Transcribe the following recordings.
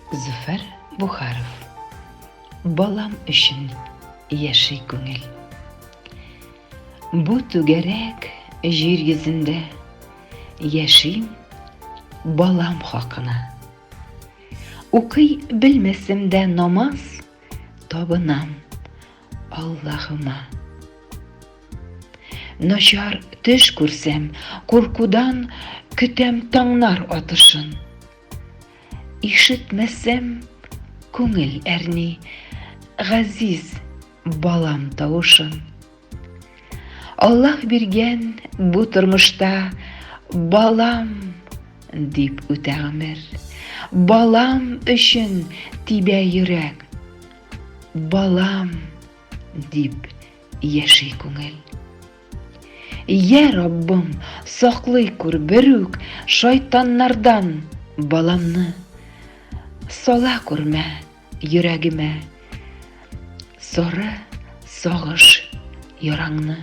Зөфәр Бухаров Балам өчен яши күңел. Бу түгәрәк җир йөзендә яшим балам хакына. Укый белмәсем дә намаз, табынам Аллаһыма. Начар төш күрсәм, куркудан көтәм таңнар атышын. Ишетмәсәм, күңел әрни, газиз балам тавышын. Аллаһ биргән бу тормышта балам дип үтә гомер. Балам өчен тибә йөрәк. Балам дип яши күңел. Йә, Раббым, саклый күр бер үк шайтаннардан баламны. Сала күрмә йөрәгемә соры сагыш яраңны.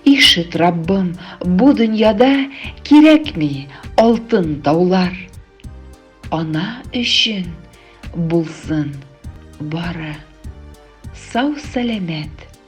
Ишет, Раббым, бу дөньяда кирәкми алтын таулар. Ана өчен булсын бары сау-сәламәт.